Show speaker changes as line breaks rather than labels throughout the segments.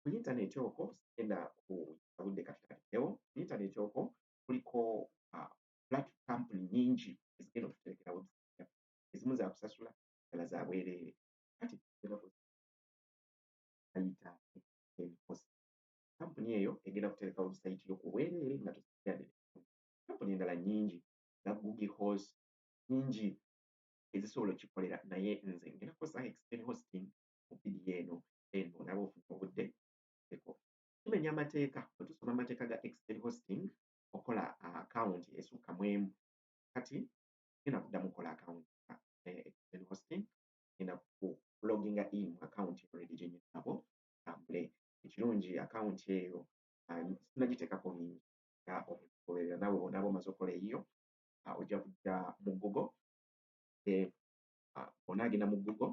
ku yintaneeti okwo sigenda kuyita budde katutandikewo ku yintaneeti okwo kuliko ah, plat kampuni nyingi ezigenda okututerekera website ezimu zakusasula dala za bwereere kati ayita emikosi kampuni eyo egenda kutereka website yo ku bwereere nga tusiade kampuni endala nyingi nga google horse nyingi ezisobola okikolera naye nze ngenda kukozesa extend hosting mu video eno then olaba ofuna obudde eko tumenya amateeka otusoma amateeka ga extend hosting okola account esukka mwemu kati genda kuddamu kola account eh, extend hosting genda ku loginga in account already gyenyinabo tambule ekirungi account eyo ah, sinagiteekako bingi nga omugoberera nawe onaba omaze okola eyiyo ah, ojja kujja mu google eh, ah, onaagenda mu google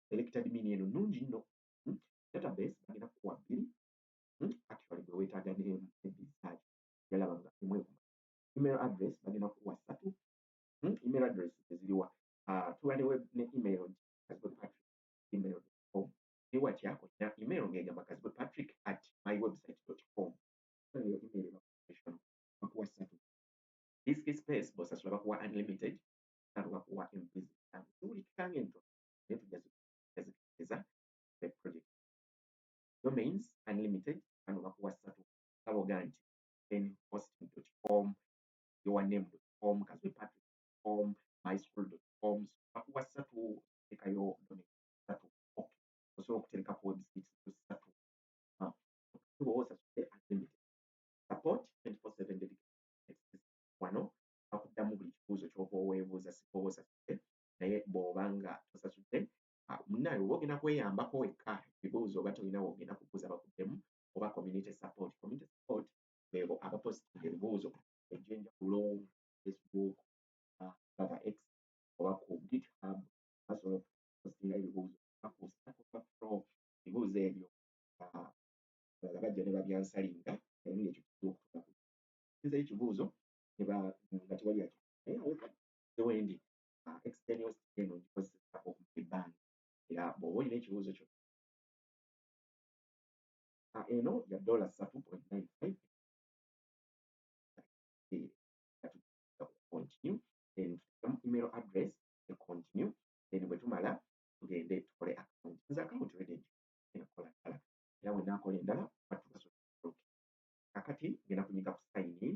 selected mean eno nnungi nno hmm? database bagenda kukuwa bbiri hmm? actually gwe weetaaga neemu ebbiri zaaki yalaba nga emu ekuma email address bagenda kukuwa ssatu hmm? email address eziriwa ah, tuba ne ne email nti kazibwe patrick email com ne watya olina email ng'egamba kazibwe patrick at my website dot com eyo email ebakuwa bakuwa ssatu disk space bosasula bakuwa unlimited alo bakuwa empizi ziwulikika ng'entono naye tujja zikiriza ne project domains unlimited kano bakuwa ssatu nga bogaa nti then hosting com your name com kazwe patrick com my school com bakuwa ssatu tekayo domain ssatu ok osobola okuterekako website ssatu ah, owosa unlimited support 24/7 dedicated wano bakuddamu buli kibuuzo kyoba oweebuuza sikoba osasudde naye bw'oba nga tosasudde ah, munnaawe oba ogenda kweyambako wekka ebibuuzo oba tolina wogenda kubuuza bakuddemu oba community support community support beebo abapositinga ebibuuzo egyenjawulo facebook ah, baba x oba ku github basobola okupositinga ebibuuzo bakuusaakufro ebibuuzo ebyo ah, balala bajja ne babyansalinga naye ngaekyo kizibu okutuula ku nzeyo ekibuuzo nga tewali ati naye zewendi uh, external skin ogikozesa okumala ebbanga era bw'oba olina ekibuuzo kyo uh, eno ya dola satu point nine five continue then tuteekamu email address ne continue then bwe tumala tugende tukole account nze account redi enakola ddala era bwe naakola endala batukaso kakati ngenda kunyiga ku sign in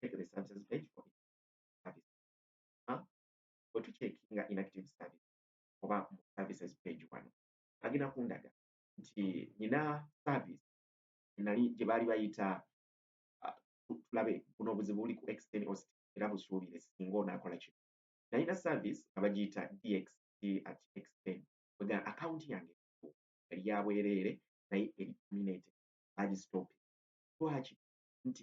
check the services page for service ha bwe tucekinga inactive service oba mu services page wano agenda kundaga nti nina service nali gye baali bayita ah, tulabe buno obuzibu buli ku extend host era busuubire singa onaakola kino nalina service nga bagiyita dxt at extend wega akawunti yange yali ya bwereere naye eri terminated bagistopi lwaki nti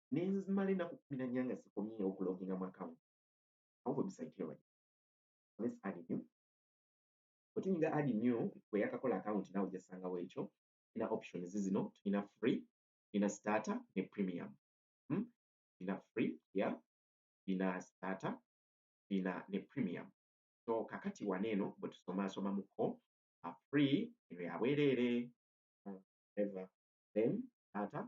nenzimala enaku kumi na nnya nga sikomye okuloginga mu account awo website yo bali let's add new otunyinga add new bweyakakola account nawe jasanga wekyo ina options zino tulina free ina starter ne premium hmm? ina free ya yeah. ina starter ina ne premium so kakati wano eno bwetusomasoma muko a free eno yabwerere hmm, ever then starter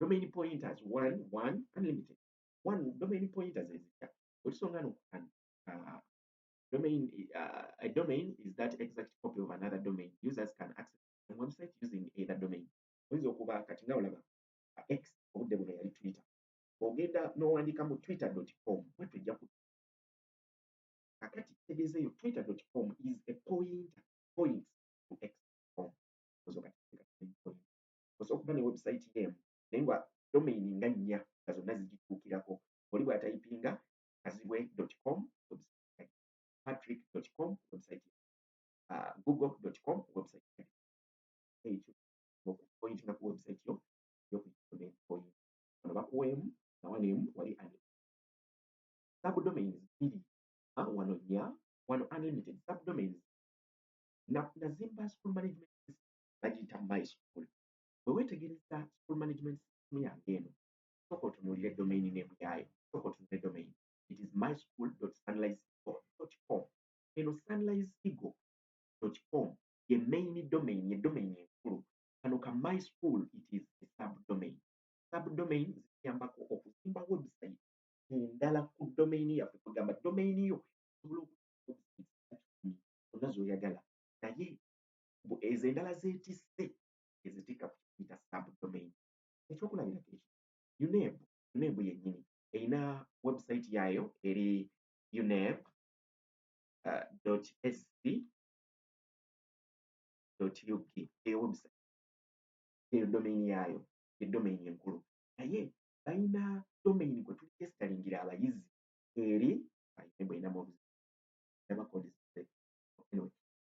domain pointers one one unlimited one domain pointers ezikya otusonga no uh, domain uh, a domain is that exact copy of another domain users can access the website using either domain oyinza okuba kati nga olaba uh, x obudde buno yali twitter ogenda n'owandiika mu twitter com bwe tujja ku kakati kitegeeza eyo twitter com is a pointer point to x com ozo kati osa okuba ne website yo emu naye nga domain nga nnya nga zonna zigituukirako oli bwatayipinga kazibwe dot com patrick dot com website uh, google dot com website ekyo okupointinga ku website yo yokudomain point ono bakuweemu nawaneemu wali ani subdomains bbiri wano nnya wano unlimited subdomains nazimba school management bagiyita my school bwe weetegereza school management system yange eno sooka otunuulire domain name yaayo sooka otunule domain it is my school sunrise com eno sunrise eagle com ye main domain ye domain enkulu kano ka my school it is a subdomain subdomain zituyambako okuzimba website endala ku domain yaffe kugamba domain yo osobola okuona zoyagala naye mbu ezo endala zetisse ezitikka ku kiyita subdomain ekyokulabirako ekyo uneb uneb yennyini erina website yaayo eri uneb uh, sc uk eyo website eyo domain yaayo ye domain enkulu naye balina domain gwe tuligesitalingira abayizi eri balina bweyinamu obuzibu nabakodeseze anyway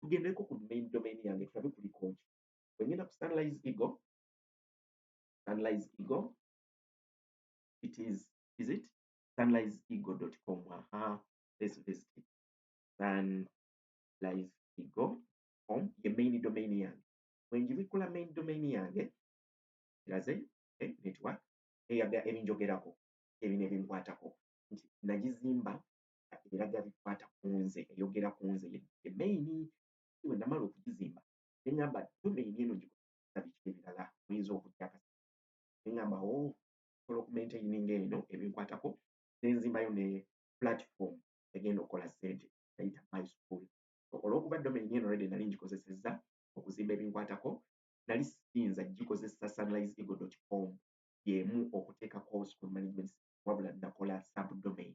tugendeko ku main domain yange tulabe kulikoki bwengenda ku sunrise ego sunrise ego it is is it sunrise ego dot com aha let's visit it sunrise ego com ye main domain yange bwenjibikula main domain yange kiraze eh, network eyaga ebinjogerako ebino ebinkwatako nti nagizimba ebiraga bikwata ku nze eyogera ku nze ye main we namala okugizimba ne ŋŋamba yo main eno ngikola biki ebirala muyinza okujja akasi ne ŋŋamba o oh, osobola okumaintaininga eno ebinkwatako ne nzimbayo ne platform egenda okukola ssente nayita my school olwokuba domain eno redi nali ngikozesezza okuzimba ebinkwatako nali siyinza gikozesa sunrise ego dot com yemu okuteekako school management wabula nakola subdomain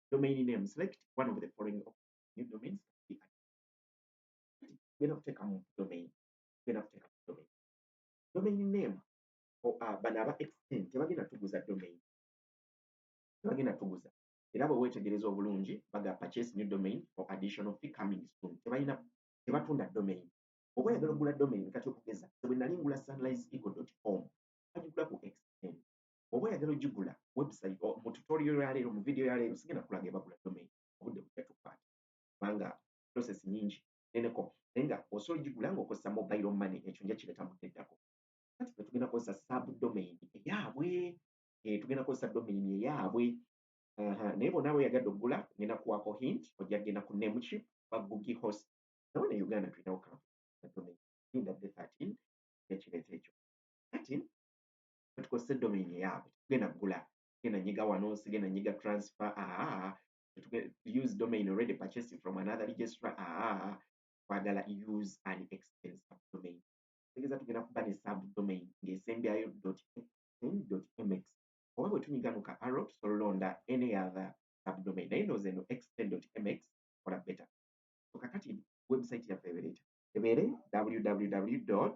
domain name select one of the following new domains genda kuteeka mu domain genda kuteeka mu domain domain name ah, bano aba extend tebagenda tuguza domain tebagenda tuguza era bwe weetegereza obulungi baga purchase new domain or additional fee coming soon tebalina tebatunda domain oba oyagala okugula domain kati okugeza bwe nali ngula sunrise eagle com agigula ku extend oba oyagala ogigula website mu tutorial ya leero mu video ya leero sigenda kulaga ebagula domain obudde bujja tukwata kubanga process nyingi neneko naye nga osobola ogigula ng'okozesa mobile money ekyo nja kireeta mu teddako kati fe tugenda kozesa sub domain eyaabwe eh, tugenda kozesa domain eyaabwe naye bona abo yagadde okugula ngenda kuwako hint ojja kugenda ku nemukip bagugi host nawe ne uganda tulinawo kampuni domain inda the 13 ekireeta ekyo kati tukozese domain eyaabwe tetugenda kugula genda nyiga wano sigenda nyiga transfer aa use domain already purchasing from another registra aa twagala use an extend subdomain tegeza tugenda kuba ne subdomain ng'esembyayo mx oba bwe tunyiga nuka arrow tusobola olonda any other subdomain naye nooza eno extend mx kola better so kakati website yaffe ebereeta ebeere www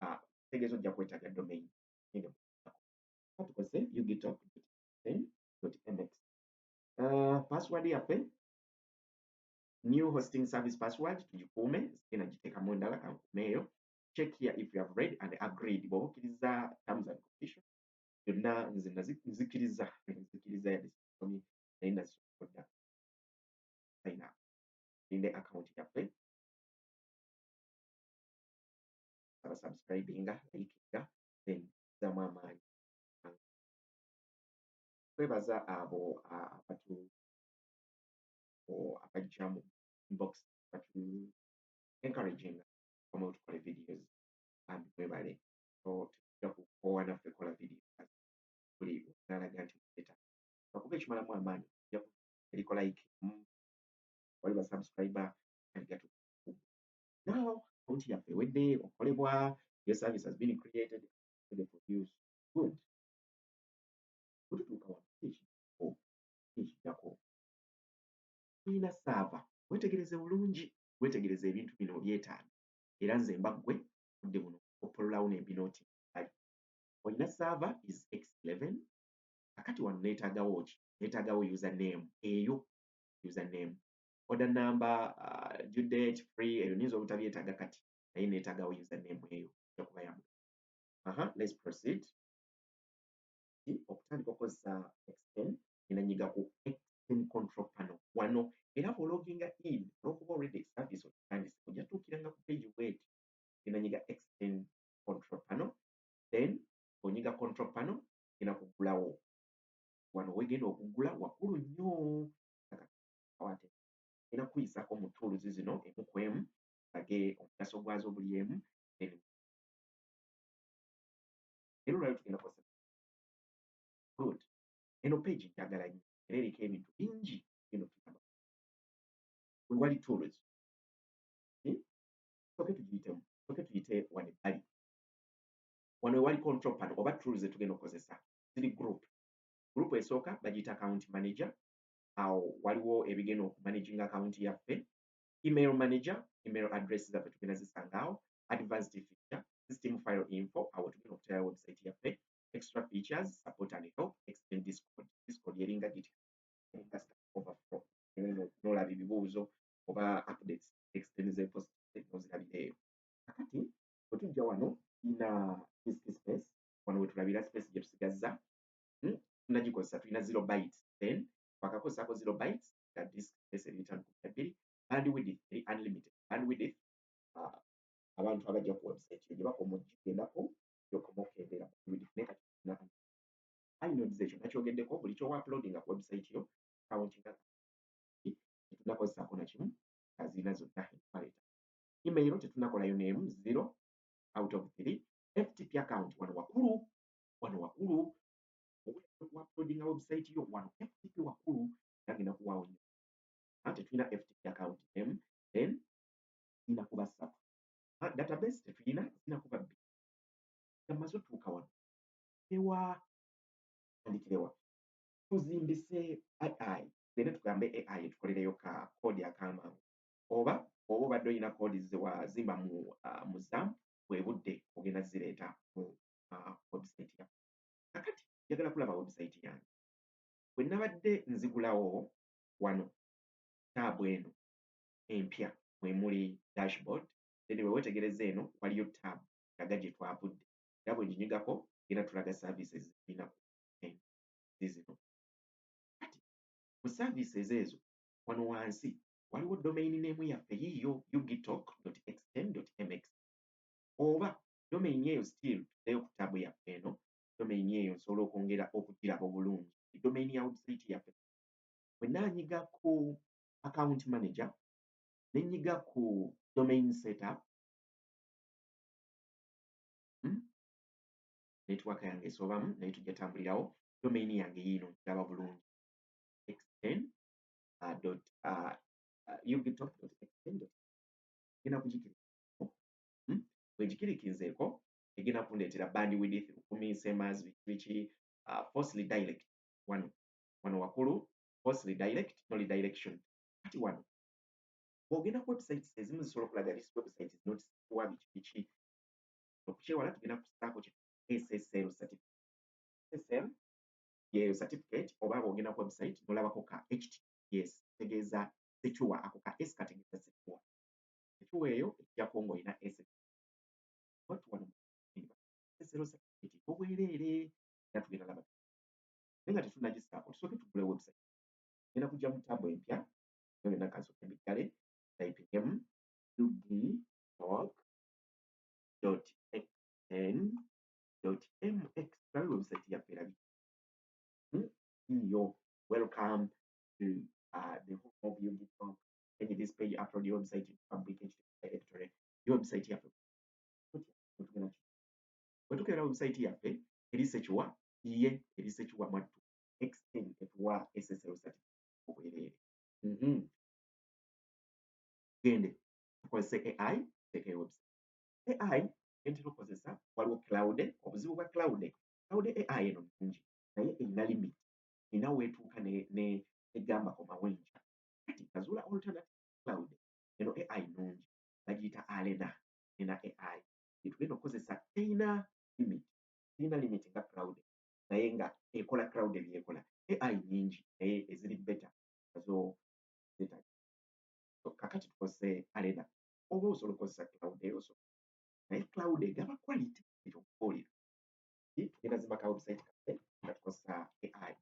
ah, tegeeza ojja kwetaaga domain eno katukoze ugitalk mx ah, password yaffe new hosting service password tugikuume sigenda giteekamu endala kankuume eyo check here if you have read and agreed bw'oba okkiriza terms and conditions byonna nze nzikiriza nzikiriza yadde sisomi naye nazisokodda sayina ninde akawunti yaffe abasubscribinga ayikinga then zamu amaanyi twebaza abo abatu abajja mu inbox batu encouraging omu tukole videos and mwebale so tujja kukoowa naffe kola video buli nalaga nti mubeta bakuba ekimalamu amaanyi tujja eriko like wali basubscriber aligatu now account yaffe ewedde okolebwa your service has been created to the produce good kututuuka wano ekijako ekijako tulina saava wetegereze bulungi wetegereze ebintu bino obyetaano era nze mba ggwe budde buno opololawo nembinooti ali olina saava is x11 kakati wano neetaagawo ki neetaagawo username eyo username order number uh, due date free ebyo nyinza obutabyetaaga kati naye neetaaga username eyo ojja kuba yamu aha let's proceed okutandika okozesa extend ena nyiga ku extend control panel wano era bwologinga in olwokuba already service okitandise ojja tuukiranga ku page wet ena nyiga extend control panel then onyiga control panel ena kugulawo wano wegenda okugula wakulu nnyo Kawate era kuyisako mu tools zino emu ku emu tulage omugaso gwazo buli emu n'ebimu era olwaliro tugenda kukozesa good eno page njagala nnyo era eriko ebintu bingi bino tuyamba wewali tools hmm? soke tugiyitemu soke tuyite wano ebbali wano ewali control pano oba tools zetugenda okukozesa ziri group group esooka bagiyita account manager awo waliwo ebigenda oku managing account yaffe email manager email address zaffe tugenda zisanga awo advanced feature system file info awo tugenda okutera website yaffe extra features support and help extend discord discord yeringa giti nolaba ebibuuzo oba updates extend ze post nozirabira eyo kakati wetujja wano ina disk space wano wetulabira space gyetusigazza hmm? tunagikozesa tulina zero bytes then twakakozesako zero bytes nga disk space eri mitano kumi nabbiri bandwidth eri unlimited bandwidth uh, abantu abajja ku website yo gyebakoma ogigendako gyokoma okendera bandwidth naye kati tulina inodes ekyo nakyogeddeko buli kyowa uploadinga ku website yo countinga tetunakozesako nakimu nga zirina zonna empaleta email tetunakolayo neemu zero out of three ftp account wano wakulu wano wakulu okuapodinga website yo wano ftp wakulu gagenda kuwaawo nyo ate tulina ftp account m then ina kuba satu database tetulina zina kuba bbi amaze otuuka wano ewa andikirewa tuzimbise ai tugende tugambe ai tukolereyo ka kodi akamangu oba oba obadde olina kodi zewazimba mu uh, muzam bwebudde ogenda zireeta mu uh, website ya kakati njagala kulaba website yange bwe nabadde nzigulawo wano taabu eno empya mwe muli dashboard then bwe wetegereza eno waliyo taabu laga gye twavudde era bwe nginyigako era tulaga services zirina zizino kati mu services ezo wano wansi waliwo domain name yaffe yiyo ugitalk.xm.mx oba domain eyo still tuddeyo ku tab yaffe eno domain eyo nsobola okwongera okugiraba obulungi domain ya website yaffe bwenna nyiga ku account manager nenyiga ku domain setup hmm? network yange esobamu naye tujja tambulirawo domain yange yiino nkiraba bulungi xn uh, dot uh, uh, ubtop dot xn dot genda kugikira bwe ngikirikinzeeko egenda kundeetera band width lukumi semas biki biki uh, force redirect wano wano wakulu force redirect no redirection kati wano bw'ogenda ku websites ezimu zisobola okulaga this website is not kuwa biki biki okukyewala tugenda kusaako ki ssl certificate ssl yeyo certificate oba bw'ogenda ku website nolabako ka ht yes tegeeza secure ako ka s kategeeza secure ekiwa eyo ekijako ng'olina esete watu wano esero sakiti obwereere era tugenda laba naye nga tetunagisaako tusooke tugule website genda kujja mu taabu empya nga byonna kansooke mbiggale typingemu ug talk dot xn dot mx tulabe website yaffe erabi hmm? yo welcome to uh, the home of ug talk page this page upload your website to public editorial your website yaffe bwe tukeera website yaffe eri sekiwa ye eri sekiwa mwattu xn etuwa ssl certificate obwereere mhm. gende tukozese ai teeka website ai entera okozesa waliwo cloud obuzibu bwa cloud cloud ai eno nungi naye erina limit erina weetuuka egamba komawo enkya kati kazuula alternative cloud eno ai nungi bagiyita alena ena ai etugenda okukozesa teyina limit teyina limit nga cloud naye nga ekola cloud ebyekola ai nyingi naye eziri beta azo zeta so kakati tukozese alena oba osobola okukozesa cloud eyo so naye cloud egaba quality ekyokubuulira tugenda zimaka website kaffe nga tukozesa ai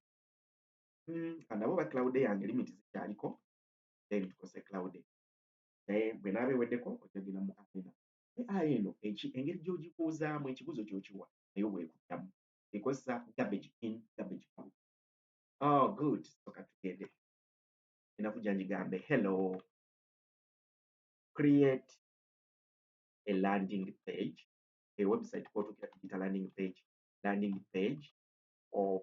mm, kandaba oba cloud yange limit zikyaliko then tukose cloud naye bwe naaba eweddeko ojagenda mu arena ai eno engeri gyogikuuzaamu ekibuzo kyokiwa naye bwekuddamu ekozesa garbage in garbage out oh good soka tugende enaku gyanjigambe hello create a landing page a website kwotukira tugita landing page landing page of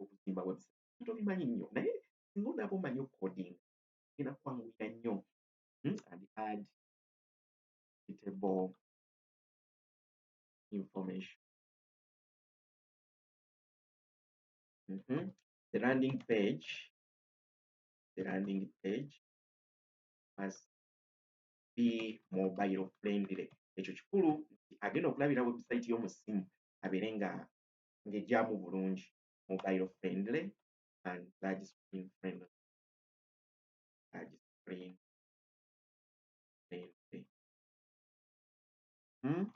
okuzimba website tobimanyi nnyo naye singa onaaba omanyi okodinga genda kwanguyira nnyo hmm, and add suitable information mm -hmm. the landing page the landing page must be mobile friendly ekyo kikulu agenda okulabira website y'omusimu abeere nga ng'egyamu bulungi mobile friendly and large screen friendly. Large screen friendly. Hmm?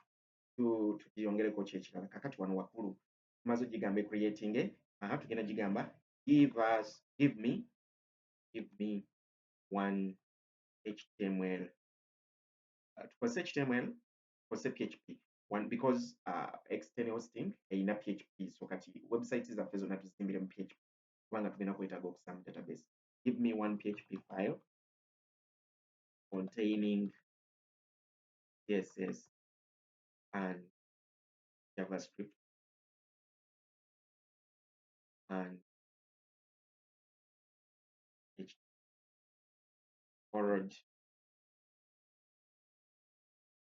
Tukiyongereko ki ekirala kakati wano waggulu tumaze ogigamba ecreatinge aha tugenda gigamba give us give me give me one html uh, tukozese html tukozese php one because uh, external hosting erina php so kati website zaffe zonna tuzimbire mu php kubanga tugenda kwetaaga okusaba mu database give me one php file containing css and javascript and php forward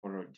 forward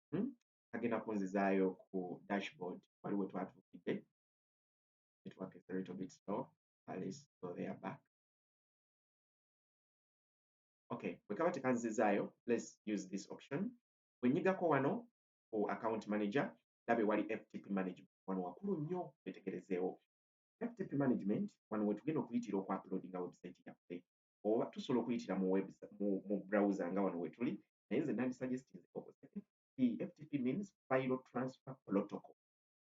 hmm? agenda kunzizaayo ku dashboard wali we twatuukidde network is a little bit slow at least so they are back okay bwe kaba tekanzizaayo let's use this option bwe nyigako wano ku account manager ndabe wali ftp management wano wakulu nnyo wetegerezeewo ftp management wano wetugenda okuyitira okuuploadinga website yaffe oba tusobola okuyitira mu web mu, mu browser nga wano wetuli naye nze nandisuggestinze okozese ftp means file transfer protocol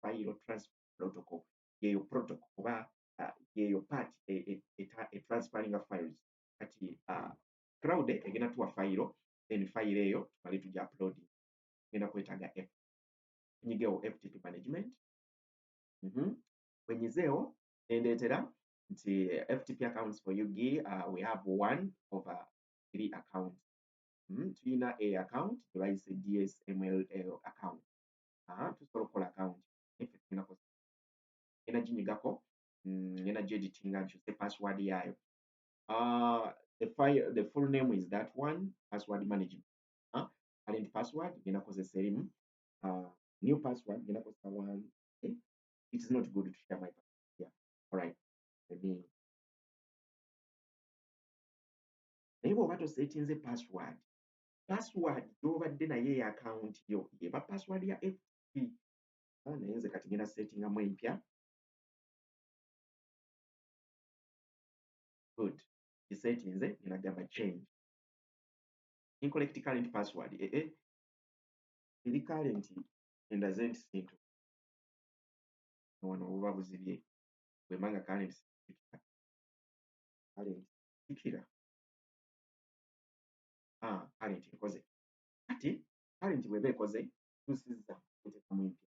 file transfer protocol yeyo protocol oba uh, yeyo part e, e, e, e transferring files kati uh, crowd egenda tuwa file then file eyo tumale tuja uploading ngenda kwetaaga f nyigewo ftp management mm -hmm. wenyizeewo nendeetera nti FTP accounts for UG uh, we have one over three accounts mm, tulina a account gyebayise DSML account uh, tusobola okukola account efe tulina kosa ena ginyigako mm, ena gyeditinga nkyuse password yaayo uh, the, file, the full name is that one password management uh, current password ngenda kozesa erimu uh, new password ngenda kozesa one okay? Eh, it is not good to share my password alright let me naye bw'oba tosetinze password password gy'obadde naye eya akawunti yo eba password ya ft ah, naye nze kati ngenda setingamu empya good gisetinze ngenda gamba change incorrect current password ee eh, eh. eri current endaze nti sintu wano buba buzibye bwemba nga kale nsikira kale nsikira ah, kale nti nkoze kati kale nti bweba ekoze tusiza kutekamu empya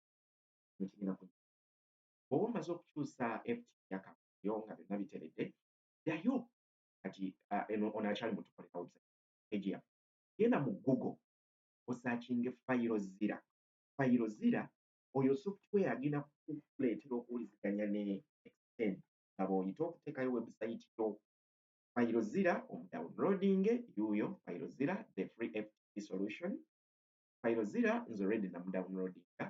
nekigenda ku bwoba omaze okukyusa ft yakayo nga byonna biteredde ddayo kati ah, eno ono akyali mutukolera website page yaffe genda mu google osakinge fayiro zira fayiro zira oyo software agenda kukuleetera okuwuliziganya ne extend nga bw'oyita okuteekayo webusayiti yo fayiro zira omudownloading yuuyo fayiro zira the free ft solution fayiro zira nze olredi namudownloadinga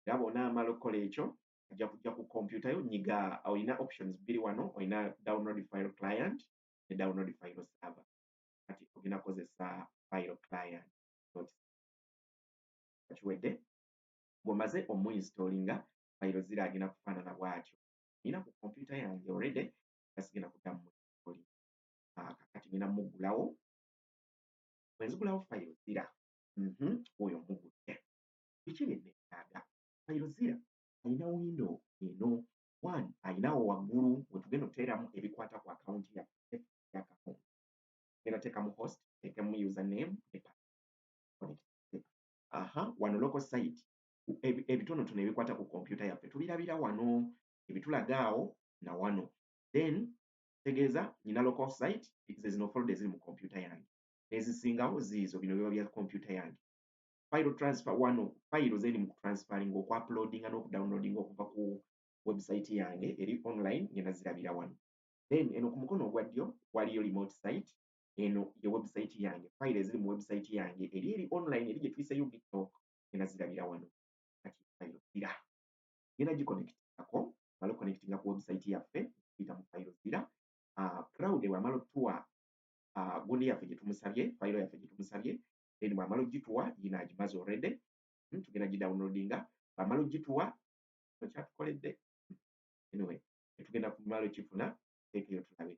era bwona amala okukola ekyo ajja kujja ku kompyuta yo nyiga olina options bbiri wano olina download file client ne download file server kati ogenda kukozesa file client nga kiwedde ng'omaze omuinstoolinga fayiro zira agenda kufaanana bwatyo nina ku kompyuta yange already nga sigenda kuddamu muinstoolinga ah, kakati nina muggulawo bwenzigulawo fayiro zira mhm, oyo mugudde biki byenneetaaga fayiro zira alina windo eno one alinawo waggulu wetugenda oteeramu ebikwata ku akawunti yaffe yakawunti genda teekamu host teekemu username ne aha wano local site ebitonotono ebikwata ku kompyuta yaffe tubirabira wano ebitulaga awo na wano then tegeeza nyina local site ze zino folda eziri mu kompyuta yange nezisingawo ziizo bino biba bya kompyuta yange file transfer wano file zeni mu transferring oku uploadinga n'oku downloadinga okuva ku website yange eri online ngenda zirabira wano then eno ku mukono ogwa ddyo waliyo remote site eno ye website yange file eziri mu website yange eri eri online eri gye tuyiseyo gittok genda zirabira wano kati file zira genda giconnectingako mala connectinga ku website yaffe tuyita mu file zira uh, proud bwamala otuwa uh, gundi yaffe gye tumusabye file yaffe gye tumusabye then bwamala ogituwa yina agimaze already hmm, tugenda gidownloadinga bwamala ogituwa nokyatukoledde anyway etugenda kumala okifuna tekeyo tulabe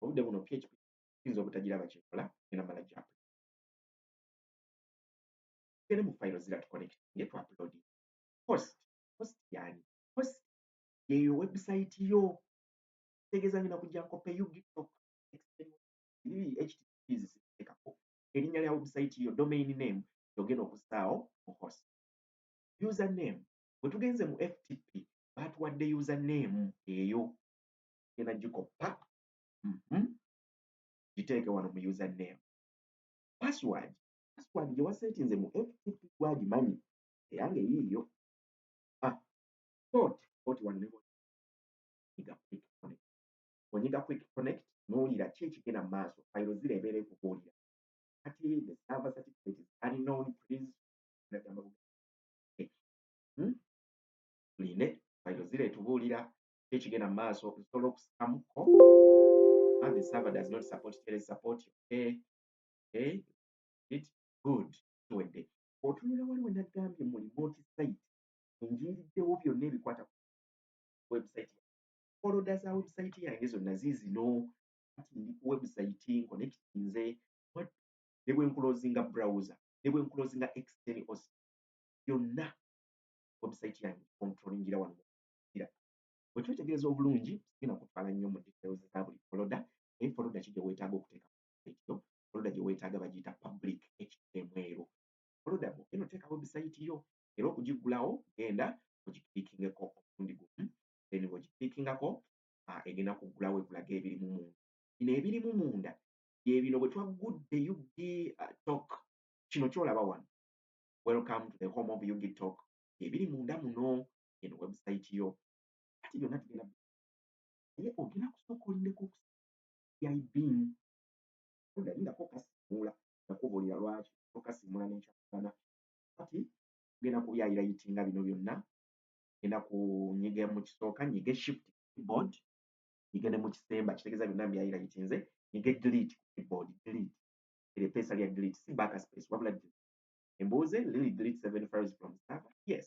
obudde buno php kiyinza obutagiraba kyekola ena mala gya tugende mu fayiro zira tuconnect nge tu upload host host yani host yeyo website yo tegeza ngina kujja nkope you gitoka httpzikako erinnya lya website yo domain name yogenda okusaawo mu host user name bwetugenze mu ftp batuwadde user name eyo genda gikoppa mhm. giteeke wano mu user name password password gye wasetinze mu ftp gwagimanyi eyange yiiyo ah, code code wano ne onyiga quick connect onyiga quick connect n'owulira ki ekigenda mu maaso fayiro zira ebeera ekubuulira kati the server certificate is unknown please nagamba hmm? line fayiro zira etubuulira kiki ekigenda mu maaso nsobola okusikamu ko ah, the server does not support tele support okay okay it good kiwedde otunula waliwo nagambye mu remote site enjiiriddewo byonna ebikwata ku website foloda za website yange zonna ziizino kati ndi ku website nkonekitinze ne bwe nkulozinga browser ne bwe nkulozinga exteni os byonna website yange kontrolingira wano kira bwe twetegereza obulungi sigenda kutwala nnyo mu details za buli foloda naye foloda ki gye weetaaga okuteeka ku website yo foloda gye weetaaga bagiyita public htm ero foloda mu eno teeka website yo era okugiggulawo genda ogiklikingeko omulundi gumu then bw'ogiklikingako ah, egenda kuggulawo ekulaga ebirimu munda bino ebirimu munda bye bino bwe twaggudde ug ah, tok kino kyolaba wano welcome to the home of ug tok ebiri munda muno eno website yo kati byonna tugenda naye ogenda kusooka olindeko okusaibin odayi nga kokasimuula nakubuulira lwaki okasimuula nekyakugana kati ogenda kubyayira yiti nga bino byonna genda kunyiga mu kisooka nyige shift keyboard nyige ne mu kisemba kitegeeza byonna mbyayira yiti nze nyige delete keyboard delete erepeesa lya delete si back space wabula delete embuuze lili delete seven files from server yes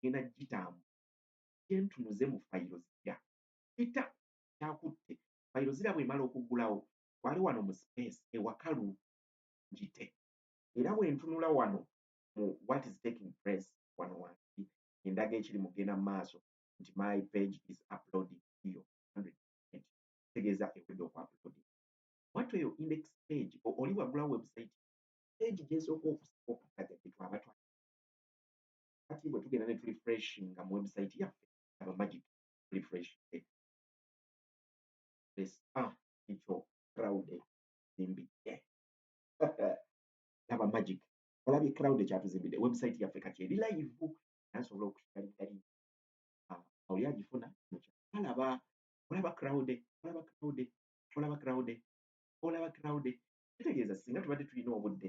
ngenda gitambula gyentunuze mu fayiro zira peter kyakutte fayiro zira bwemala okugulawo twale wano mu space ewakalu ngite era bwentunula wano mu what is taking place wano wansi endaga ekiri mugenda mu maaso nti my page is uploading iyo tegeeza ewedde oku uploading watu eyo index page oli wagulawo website page gyesooka okusooka kati twaba twa kati bwe tugenda ne tulifreshinga mu website yaffe aba magic tulifreshinge lesa ekyo crowd zimbidde aba magic olabye crowd ekyatuzimbidde website yaffe kati eri live nasobola okukigaligari ah, oli agifuna alaba olaba crowd olaba crowd olaba crowd olaba crowd kitegeeza singa tubadde tulina obudde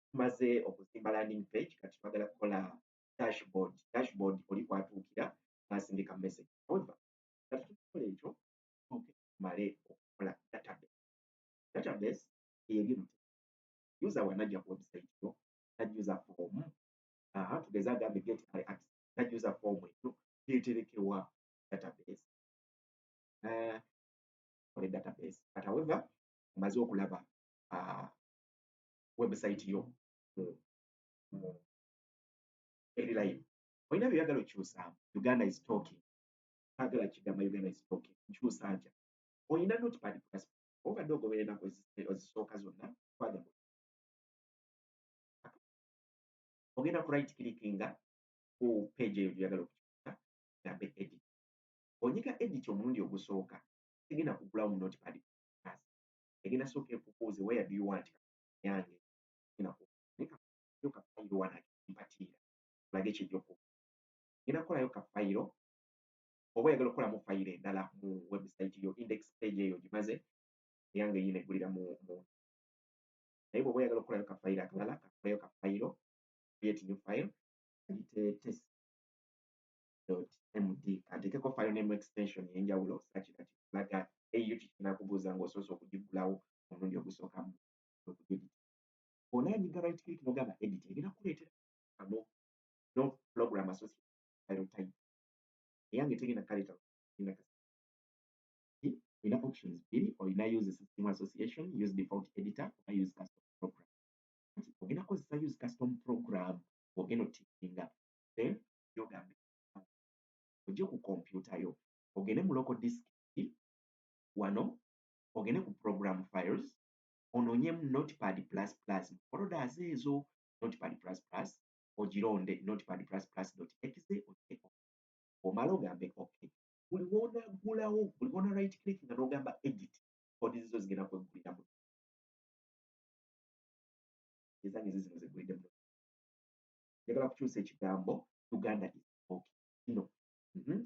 tumaze okuzimba landing page kati twagala kukola dashboard dashboard oli kwatuukira n'asindika message however kati tukola ekyo tuuke tumale okukola database database eyebintu user wanajja ku website yo najuza form aha tugeze agambe get i access najuza form ekyo yeterekewa database uh, kole database but however omaze okulaba uh, website yo mu mu eri live olina byoyagala okyusaamu uganda is talking agala kigamba uganda is talking nkyusa ntya olina notepad plus obadde ogobera enaku ezisooka zonna kwaga ogenda ku right clickinga ku page eyo gyoyagala okukyusa gambe edit onyiga edit omulundi ogusooka tegenda kugulawo mu notepad plus egenda sooka ekubuuze where do you want yange nayo kafayiro wanakimpatiira olage kyejoko ngenda kukolayo kafayiro oba oyagala okukolamu fayiro endala mu website yo index page eyo gimaze eyange yina eggulira mu naye bwoba oyagala okukolayo kafayiro akalala kakolayo kafayiro create new file ayite test md kantekeko file name extension yenjawulo osakira kikulaga eyo kikinakubuuza nga osoose okugigulawo omulundi ogusooka mu okugedit ona nyiga right click nogamba edit egenda kuleetera kano no program associate file type eyange tegenda kaleeta genda kasi olina options bbiri olina use system association use default editor oba use custom program ogenda kozesa use custom program ogenda otikinga then gyogamba ojje ku kompyuta yo ogende mu local disk wano ogende ku program files onoonyemu notepad plus plus mu folders ezo notepad plus plus ogironde notepad plus plus dot exe ogireku omala ogambe ok buli woonaggulawo buli woona right click nga n'ogamba edit kodi zizo zigenda kwegguliramu ezange zizino zegguliddemu njagala kukyusa ekigambo uganda is talking kino mhm.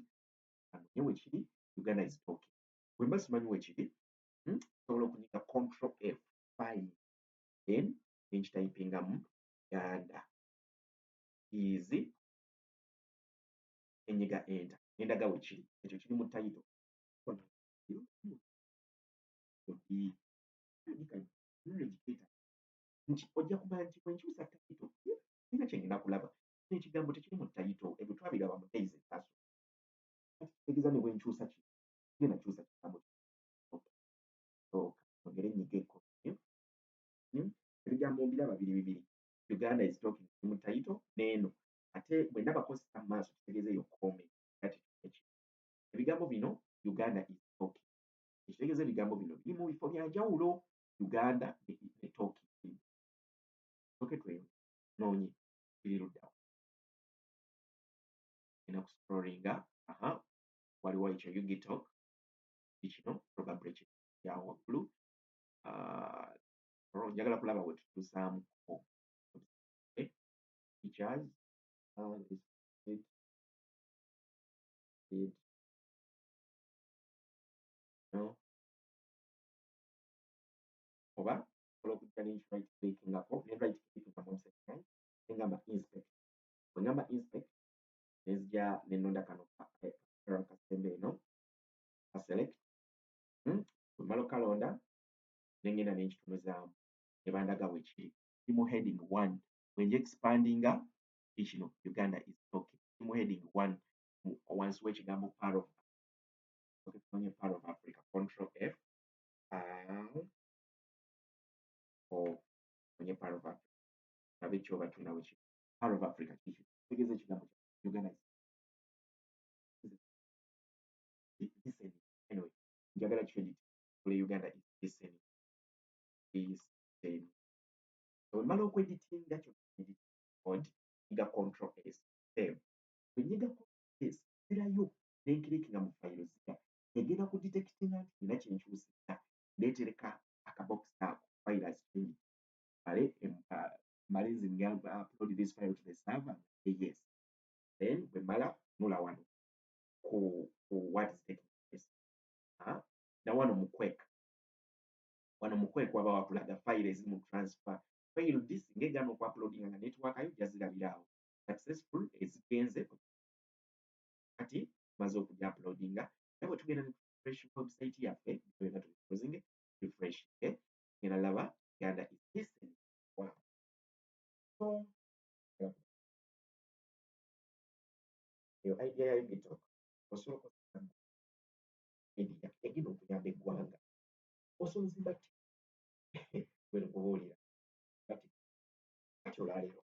anonye wekiri uganda is talking wemba simanyi wekiri mhm. sobola okunyiga control f five then nenkitayipingamu uganda is enyiga enta endaga wekiri ekyo kiri mu tayito nti ojja kumanya nti bwenkyusa tayito ina kyengenda kulaba ekigambo tekiri mu tayito ebyo twabiraba mu days etaso kati kitegeza ne bwenkyusa ki genda kyusa kigambo ogere nyige ebigambo mbiraba biri bibiri uganda is talking mu tayito neeno ate bwendaba kosita mu maaso kitegeza eyo kome kati eki ebigambo bino uganda is talking ekitegeza ebigambo bino biri mu bifo byanjawulo uganda netoki oke tweyo nonye biri luddawa ina kuscrollinga aha waliwo ekyo ugitok kikino probably kino kyawo waggulu ah, njagala kulaba wetutuusaamu features uh, is it did no oba osobola okujja ne right click ngako ne right click nga mu website yange ne ngamba inspect bwe ngamba inspect ne nzija ne nnonda kano kasembe eno ka select hmm, bwe mmala okukalonda ne ngenda ne nkitunuzaamu ne bandaga we kiri kiri mu heading one bwe nja expandinga kiri kino uganda is talking kiri mu heading one wansi w'ekigambo power of okay, power of africa control f ang o onye part of africa nabe kyoba tunawe ki part of africa kiki tegeza ekigambo kya uganda anyway njagala credit kule uganda is listening is saying so mala okweditinga kyo od iga control s save kunyiga control s sirayo nenkiriki nga mu file zika egenda ku detectinga nti nina kyenkyusizza netereka akabokisi ako files kiri male male nze nga upload this file to the server yes then bwe mala nula wano ku ku what is taking place ha na wano mu quick wano mu quick waba wakulaga file ezi mu transfer file this ngegano ku uploading nga network ayo jazirabirawo successful ezigenze kati tumaze okuli uploadinga naye bwe tugenda ne refresh website yaffe byonna tubikozinge refresh eh? ngenda laba uganda is listening wow. so eyo idea ya ubitok osobola okozesa media egenda okuyamba eggwanga osobola ozimba ti wena kubuulira kati kati olwaleero